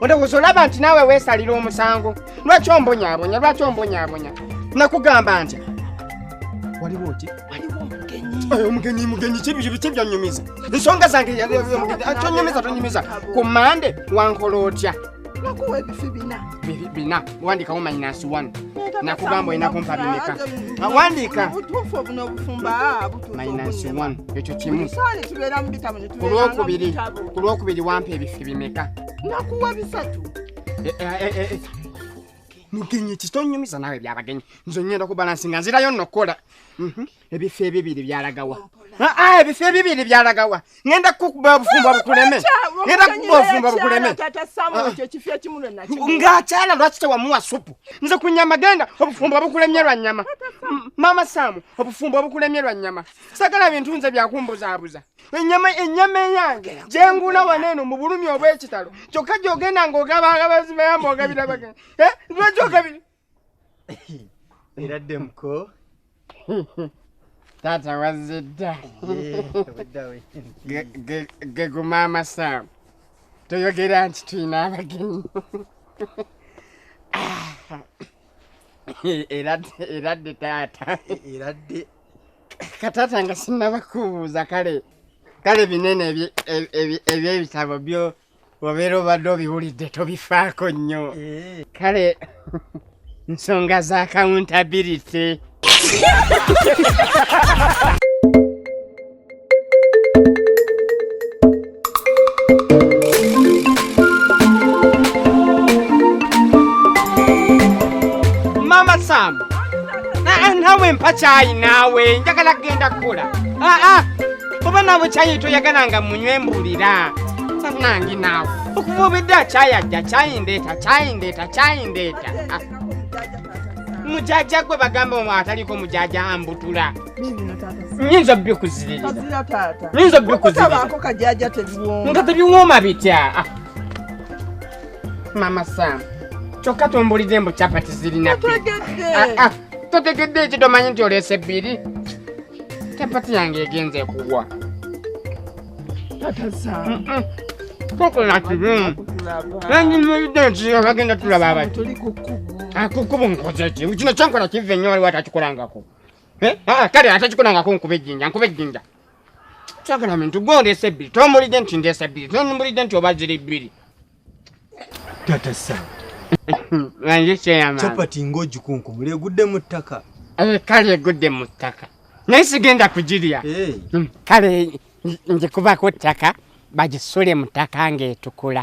olowooza olaba nti naawe weesalira omusango lwaki ombonyabonya lwaki ombonyabonya nakugamba nti waliwo oti omugenyi mugenyi kibyanyumiza ensonga zange tonyumiza tonyumiza ku mande wankola otya nakuwa ebifi bina bina wandikawo minus one nakugamba olina kumpa bimeka wandika obutuufu obuno obufumba minus one ekyo kimu olwokubiri wampa ebifi bimeka nakuwa bisatu eh, eh, eh, mugenyi kitonyumiza nawe byabagenyi nze ngenda kubalansi nga nzirayo nokukola mhm. ebifo ebibiri byalagawa ah, ah, ebifo ebibiri byalagawa ngenda kukuba obufumbo bukuleme ngenda kukuba obufumbo bukuleme ngaakyala lwaki tewamuwa supu nze ku nyama genda obufumbo bukulemye lwa nyama maama saamu obufumbo bukulemye lwa nyama sagala bintu nze byakumbuzaabuza enyama enyama eyange jengula waneno mu bulumi obw'ekitalo kyokka gyogenda ng'ogaba agabazi bayamba ogabira baga eh, lwaki ogabira era ddemuko taata wazze dda geguma amasaamu toyogera nti tulina abagenyi ah. era dde taata era dde katata nga sinaba kubuuza kale kale binene ebyebitabo byo obeera obadde obiwulidde tobifaako nnyo eh. kale nsonga za accountability mama sam Ah, ah, nawe mpa kyayi naawe njagala kugenda kukola Ah, ah, oba naawe kyayi toyagala nga munywe mbulira nangi naawe okuva obedda kyayi ajja kyayi ndeeta kyayi ndeeta kyayi ndeeta Ah. mujaja gwe bagamba omwe ataliko mujaja ambutula nyinza bikuziririza nyinza bikuziririza tebiwooma bitya ah. mama sam kyokka tumbulidde mbu capati zirina ah, ah. totegedde eki tomanyi nti oleese bbiri capati yange egenze kugwa tokola kibi nanyimiride nti abagenda tulaba abati akukubu nkoze ki kino kyenkola kive nnyo waliwo atakikolangako Eh? Ah, kale ate kikulangako nkuba ejjinja nkuba ejjinja kyagala mintu gwe ondeesa ebbiri tombulidde nti ndeesa ebbiri tombulidde nti oba ziri bbiri tata sa nze kyeyama capati ng'ogikunkumula egudde mu ttaka eh, kale egudde mu ttaka naye sigenda kugirya eh. hmm, kale ngikubaku ttaka bagisule mu ttaka ng'etukula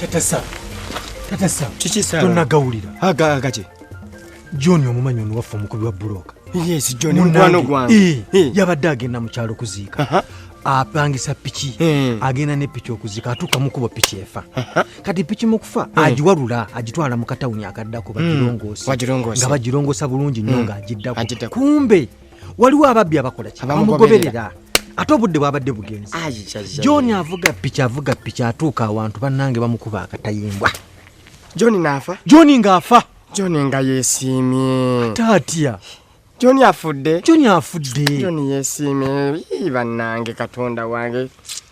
Tetesa. Tetesa. Kiki sawa? Tunagawulira. Aga agaje. John omumanyi ono waffe omukubi wa buloka. Yes, John mukwano gwange. Eh, yabadde agenda mu kyalo kuziika. Aha. apangisa piki eh. agenda ne piki okuzika atuuka mukubo piki efa kati piki mukufa eh. agiwalula agitwala mu katawuni akaddako hmm. bagirongoosa nga bagirongoosa bulungi nnyo hmm. ng'agiddako kumbe waliwo ababbi abakola ki bamugoberera ate obudde bwabadde bugenzi john avuga piki avuga piki atuuka awantu bannange bamukuba akatayimbwa john naafa john ngaafa john nga yesiimye taatya john afudde john afudde john yesiimye bannange katonda wange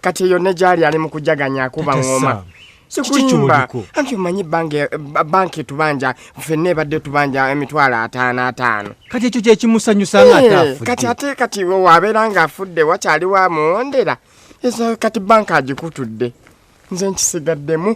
kati eyo ne gyali ali mu kujaganya akuba ngoma sikulimba anti omanyi banka etubanja fenna ebadde tubanja emitwalo ataano ataano kati ekyo kyekimusanyusaakati eh, ate kati wabeera nga afudde wakyali wamuwondera eso kati banka agikutudde nze nkisigaddemu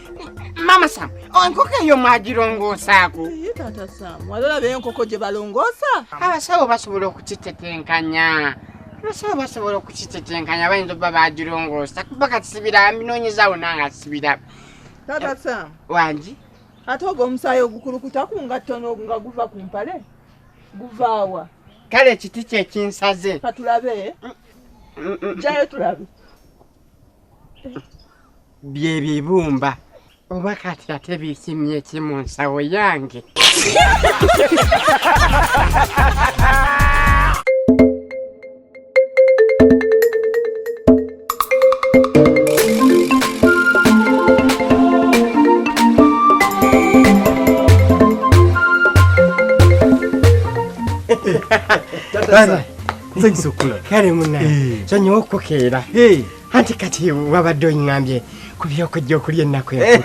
Mama Sam, enkoko oh, eyo mwagirongoosaako? Ye taata Sam, wali olaba enkoko gye balongoosa? Abasawo basobola okukitetenkanya. Abasawo basobola okukitetenkanya bayinza okuba baagirongoosa kuba kati sibiraba mbinoonyezaawo nanga sibiraba. Taata Sam. Wangi? Ate ogwo omusaayi ogukulukuta ku ngatto nga guva ku mpale? Guvaawa? Kale ekiti kye kinsaze. Ka tulabe. Mm, mm, mm. Jjayo tulabe. byebibumba oba kati ate bikimye ki mu nsawo yange Tata, nsanyusa okukula kale muna sonyiwa okukeera anti kati wabadde ongambye ku byokujja okulya ennaku enkulu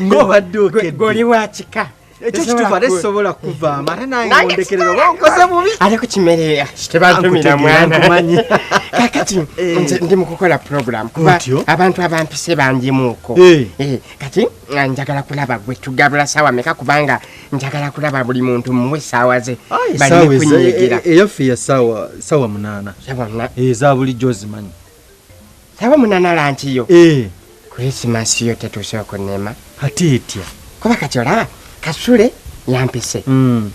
ng'obadde okegoli wa kika ekyo kituufu ate sisobola kuvaamu ate nange ondekerera oba onkoze bubi ate ku kimere tebantumira mwana kakati eh. ndi mu kukola puroguramu kuba abantu abampise bangimuuko eh. eh, kati njagala kulaba gwe tugabula sawa meka kubanga njagala kulaba buli muntu muwe saawa ze balikunyegera e- e- eyaffe ya saawa saawa munaana eza eh, bulijjo ozimanyi saawa munaana lankiyo eh. krisimasi yo tetuuse okunema ate etya kuba kati olaba kasule yampise hmm.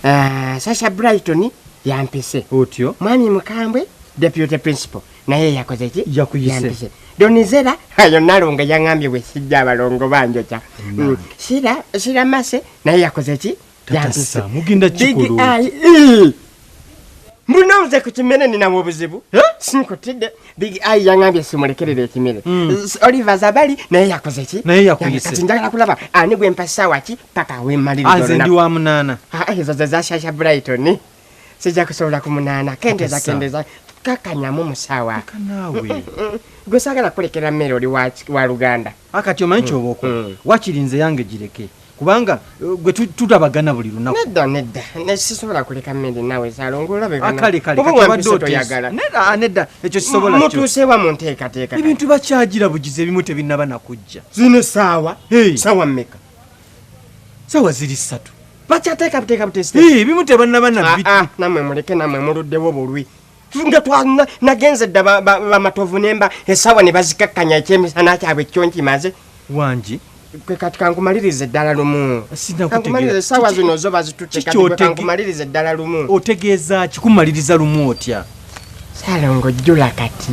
ah, sasha brighton yampise otyo mwami mukambwe deputy principal naye yakoze ki yakuyise donizera ayo nalongo yaŋambye bwe sijja abalongo banjoca mm. sira mase naye yakoze ki yampise mbuno nze ku kimere ninamu obuzibu sinkutidde big i yaŋambye simulekerera ekimere hmm. olive azabali naye yakoze ki naye yakuyise njagala kulaba ani gwe mpasaawa ki paka wemalirizo ah, ndi wa munaana ah, ezo ze zashasha brighton sijja kusobola kumunaana kendeza Kisa. kendeza kakanyamu musawa Leka naawe gwe saagala kulekera mmere oli wa- wa luganda akati omanyi kyoba okola mm. wakiri nze yange gireke kubanga eh, gwe tu- tutabagana buli lunaku nedda nedda ne- sisobola kuleka mmere nawe salongo olabe bana- akale kale oba kati obadde wampise oteesa. toyagala Nedda, ah, nedda ekyo kisobola kyo. mutuusewa mu nteekateeka ebintu bakyagira bugizi ebimu tebinnaba nakujja zino saawa Hey. saawa mmeka sawa ziri satu bakyateeka buteeka butesi bimu tebanaba nabbi ah, ah, namwe muleke namwe muluddewo bulwi nga twalina nagenze dda bamatovu nemba esawa ne bazikakkanya ekyemisana kyabwe kyo nkimaze wangi kwe kati kankumaliriza eddala lumu kankumaliriza esawa zino zo bazitutekankumaliriza eddala lumu otegeeza kikumaliriza lumu otya salongo jjula kati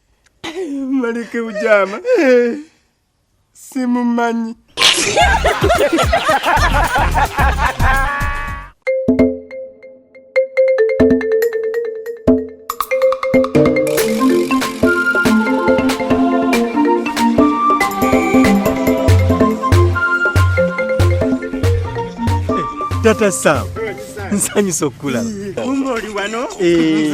Malike ujama simumanyi tata sam nsanyusa okukulaba eh.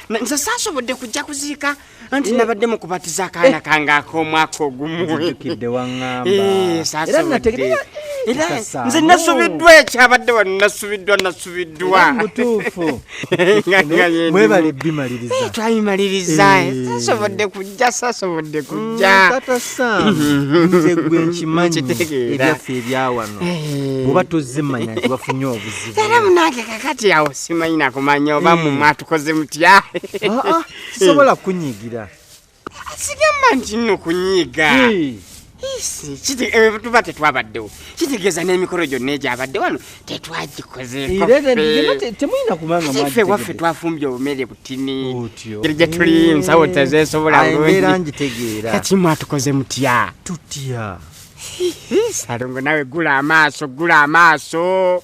nze saasobodde kujja kuziika anti eh. nabadde mu kubatiza akaana eh. kange ak'omwaka ogumuukidde waŋambaera nze nasubiddwa ekyabadde wano nasubiddwa nasubiddwa twayimaliriza sasobodde kujja sasobodde mm, kujja nze gwe nkimanyi ebyaffe ebyawano oba tozze manya nti bafunye obuzibu era munange kakati awo simanyi nakumanya oba mwe mwatukoze mutya ah, ah, sisobola kunyigira sigamba nti nno kunyiiga eh, tuba tetwabaddewo kitegeeza n'emikolo gyonna egyabadde wano tetwagikozeeffe waffe twafumbye obumere butini eri gye tuli eh, nsawo tezeesobola bulungikati mwatukoze mutya tutya salongo nawe gula amaaso gula amaaso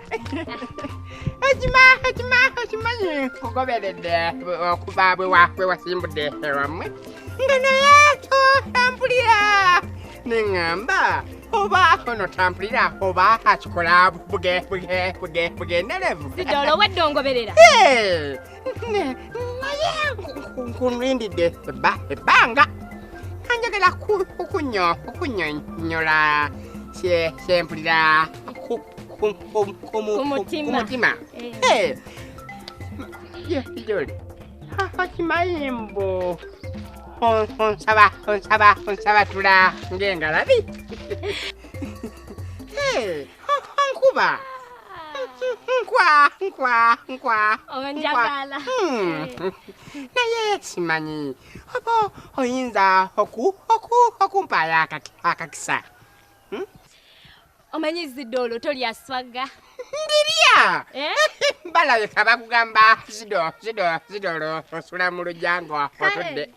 ekima ekima ekimanyi kugoberedde okuva bwe wasimbudde ewammwe nga naye totampulira neŋŋamba oba ono tampulira oba akikola buge buge buge bugenderevu sidolo wedde ongoberera naye nkunrindidde ebbanga kanjagala okunyonyola kyempulira kumutima joli okimanyi mbu onsaba onsaba onsaba tula ng'engalabi nkuba nkwa nkwa nkwa onjagala hmm. naye simanyi oba oyinza okumpaayo akakisa hmm? omanyi zidoolo tolya swaga ndirya eh? balabika bakugamba zidoolo osula mu lujango otudde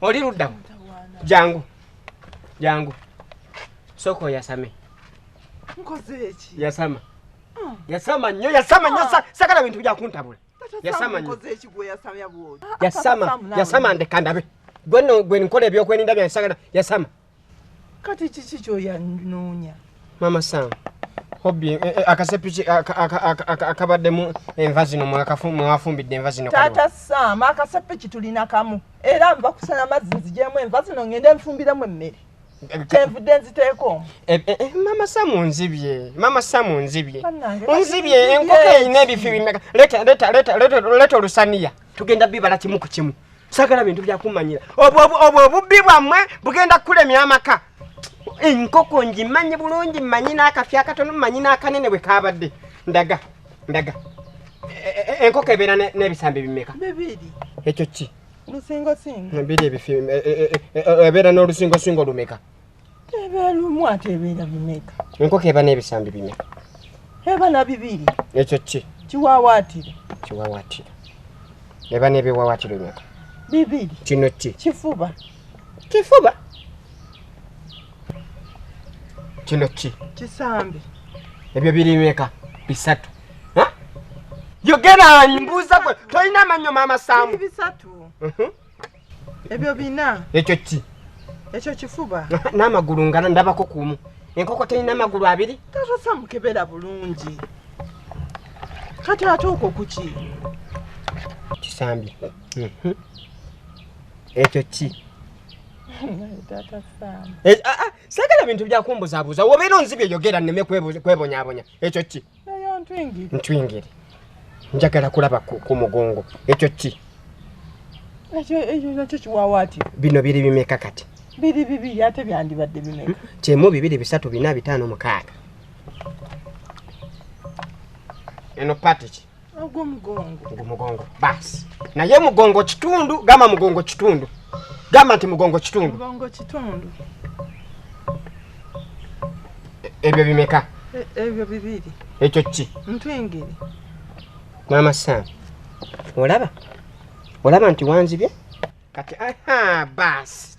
oli luddamu jangu jangu soko yasame yasama ah. yasama nyo yasama nyo ah. sakala bintu byakuntabula yasama nyo yasama yasama ndekandabe gwe nkola ebyokwerinda byansagala yasama kati kiki kyoyanoonya mama sam hobi eh, eh, akasepiki akabaddemu enva zino mwafumbidde enva zino taata sam akasepiki tulina kamu era nva kusana mazzi nzijemu enva zino ngende nfumbiremu emmere kyenvudde nziteeko eh, eh, eh, mama samu nzibye mama samu nzibye nzibye enkoko erina ebifi bimeka leta olusaniya tugenda bibala kimu ku kimu sagala bintu byakumanyira obwo obubbi bwammwe bugenda kukulemya amaka enkoko ngimanyi bulungi manyi n'akafi akatono manyi n'akanene bwe kabadde ndaga ndaga e, e, e, enkoko ebeera n'ebisambi bimeka ekyo ki ebeera n'olusingosingo lumeka ebelumu ate ebeera bimeka enkoko eba n'ebisambi bimeka eba na bibiri ekyo ki kiwawaatiro kiwawaatiro eba n'ebiwawaatiro bimeka bibiri kino ki kifuba kifuba kino ki kisambi ebyo biri bimeka bisatu yogera mbuuza gwe tolina amannyo maama saamu bisatu mhm. ebyo bina ekyo ki ekyo kifuba n'amagulu nga ndabako kumu enkoko terina amagulu abiri tatosa mukebera bulungi kati ate okwo kuki kisambi mhm. ekyo ki eh, ah, ah, sagala bintu byakumbuzabuuza wobeera onzibye yogera nneme kwebonyabonya ekyo ki ntwingire njagala kulaba ku mugongo ekyo ki bino biri bimeka kati biri bibiri ate byandibadde bimeka hmm? kyemu bibiri bisatu bina bitaano mukaaga eno patiki ogwomugongo mugongo basi naye mugongo kitundu gamba mugongo kitundu gamba nti mugongo kitundu e, ebyo bimeka e, ebyo bibiri ekyo ki ntwingiri maama sam olaba olaba nti wanzibye kati aha basi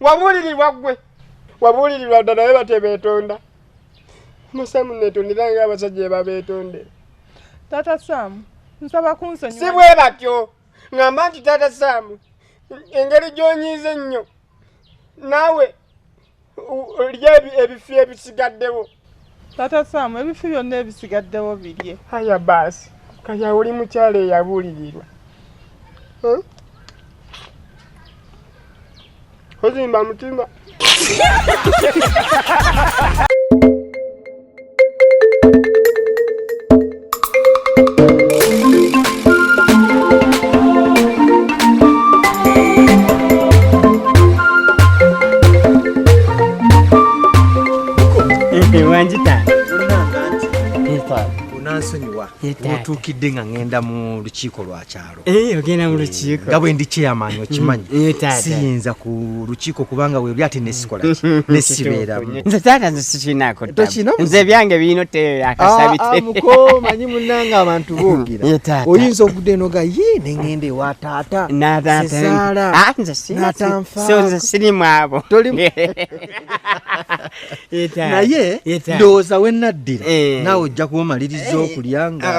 wabuulirirwa ggwe wabuulirirwa dda naye batebeetonda musaamu neetondera nga abasajja ebabeetondera taata saamu nsaba kunsonyi si bwe batyo ngamba nti taata saamu engeri gy'onyiiza ennyo naawe lya ebifi ebisigaddewo Tata Sam, ebifi byonna ebisigaddewo birye. Haya baasi, kaya oli mukyala eyabuulirirwa. Eh? Ozimba mutima. otuukidde nga ŋŋenda mu lukiiko lwa kyalo Eh, ogenda mu lukiiko nga bwe ndi chairman okimanyi mm, eh, siyinza ku lukiiko kubanga webli ate nesikola nesibeeramu nze taata nze sikinaako nze ebyange birina oteera akasabitemukomanyi ah, ah, munange abantu boogera eh, oyinza okudde noga ye nengenda ewa taata nataataala ah, nze sinze sirimu abo naye ndowooza wenaddira naawe ojja kuba omaliriza okulya nga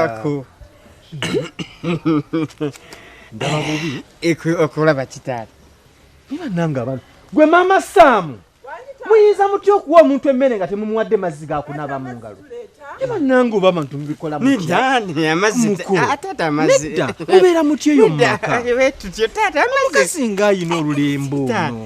ndaba bubi okulaba kitaala niba nange abana gwe maama saamu muyinza mutya okuwa omuntu emmere nga temumuwadde mazzi gakunaaba mu ngalo ebanange oba abantu mubikolamubeera mutya eyo mumaka mukasi ngaayina olulembo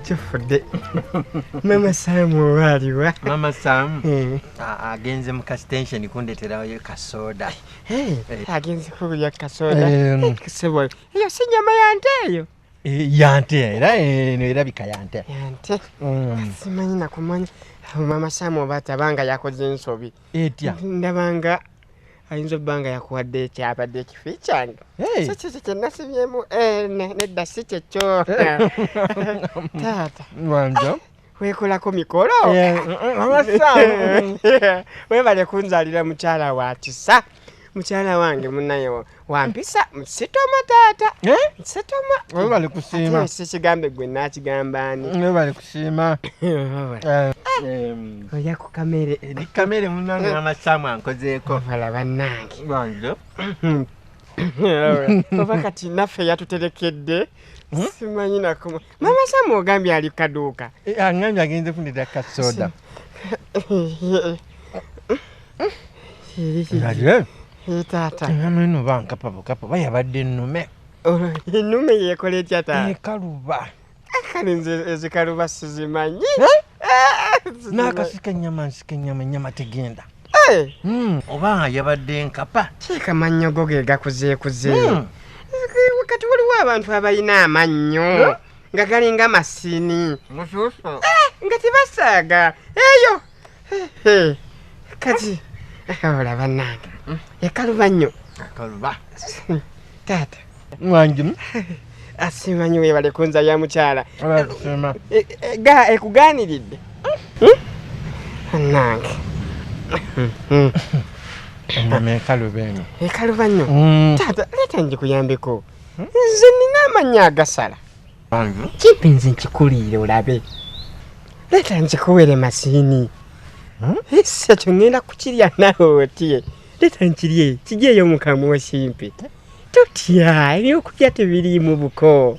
kifudde mama sam oba aliwa mama sam eh. agenze mu kasitensheni kundeterayo kasoda eh, eh. agenze kukulya kasoda sebo eyo si nyama yante eyo yante era eno erabika yante yante mm. simanyi nakumanya mama sam oba atabanga yakoze ensobi etya ndabanga ayinza obba nga yakuwadde ekyabadde ekifi kyange si kyekyo kyenasibyemu eh, nedda si kyekyo taata ah, wekolako mikolo webale kunzalira mukyala wa kisa mukyala wange munaye wampisa sitoma taata eh? sitoma webale kusiima sikigambe gwe nakigamba ani siima eh, oja ku kamere eri kamere munange namasaamu ankozeeko vala bannange banjo oba kati naffe yatuterekedde hmm? simanyi nakuma mama samu ogambye ali kaduuka eh, angambye agenze fundira kasoda taata ameno bankapabukapa bayabadde ennume ennume yekola etya taata ekaluba kale nze ezikaluba sizimanyi nakasika enyama nsika enyama enyama tegenda hmm. oba yabadde nkapa kiika mannyo go ge gakuzeekuze hmm. kati waliwo abantu abalina amannyo nga galinga masini eh, nga tebasaaga eyo kati akawola bannange ekaluba nnyo akaluba taata mwangimu asiima nyo webale kunza ya mukyala e, e, ga ekugaaniridde hmm? bannange enyama ekaluba eno ekaluba nnyo hmm. taata leeta njikuyambeko hmm? nze nina amannya agasala Kipi nze nkikuliire olabe leeta nkikuwere masiini hmm? esi ekyo ŋŋenda kukirya nawe otye leeta nkirye kiryeyo mu kamwa osimpe totya ebyokulya tebiriimu buko